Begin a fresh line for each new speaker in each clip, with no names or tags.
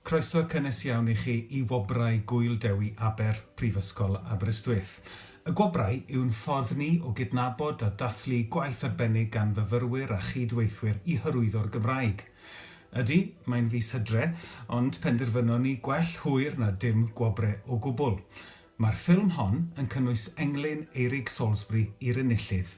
Croeso cynnes iawn i chi i Wobrau Gŵyl Dewi Aber, Prifysgol Aberystwyth. Y Gwobrau yw'n ffordd ni o gydnabod a dathlu gwaith arbennig gan fyfyrwyr a chyd-weithwyr i hyrwyddo'r Gymraeg. Ydy, mae'n fis Hydre, ond penderfynon ni gwell hwyr na dim gwobre o gwbl. Mae'r ffilm hon yn cynnwys englyn Eirig Salisbury i'r enillydd.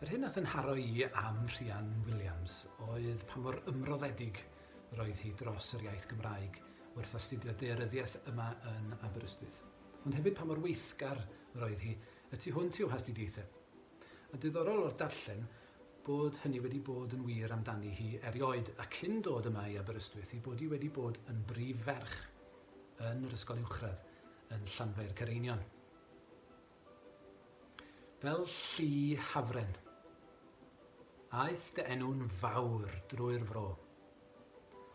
Yr hyn a thynharo i am Rhian Williams oedd pa mor ymroddedig yr oedd hi dros yr iaith Gymraeg wrth astudio daearyddiaeth yma yn Aberystwyth, ond hefyd pa mor weithgar yr oedd hi y tu hwnt i'w hastudiaethau. A diddorol o'r darllen bod hynny wedi bod yn wir amdani hi erioed, a cyn dod yma i Aberystwyth ei bod hi wedi bod yn brif ferch yn yr ysgol uwchradd yn Llanfair Careinion. Fel llu hafren. Aeth dy enw'n fawr drwy'r fro.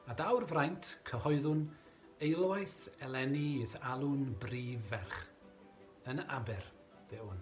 A daw'r fraint, cyhoeddwn, eilwaith eleni i'th alw'n brif ferch. Yn Aber, fe wn.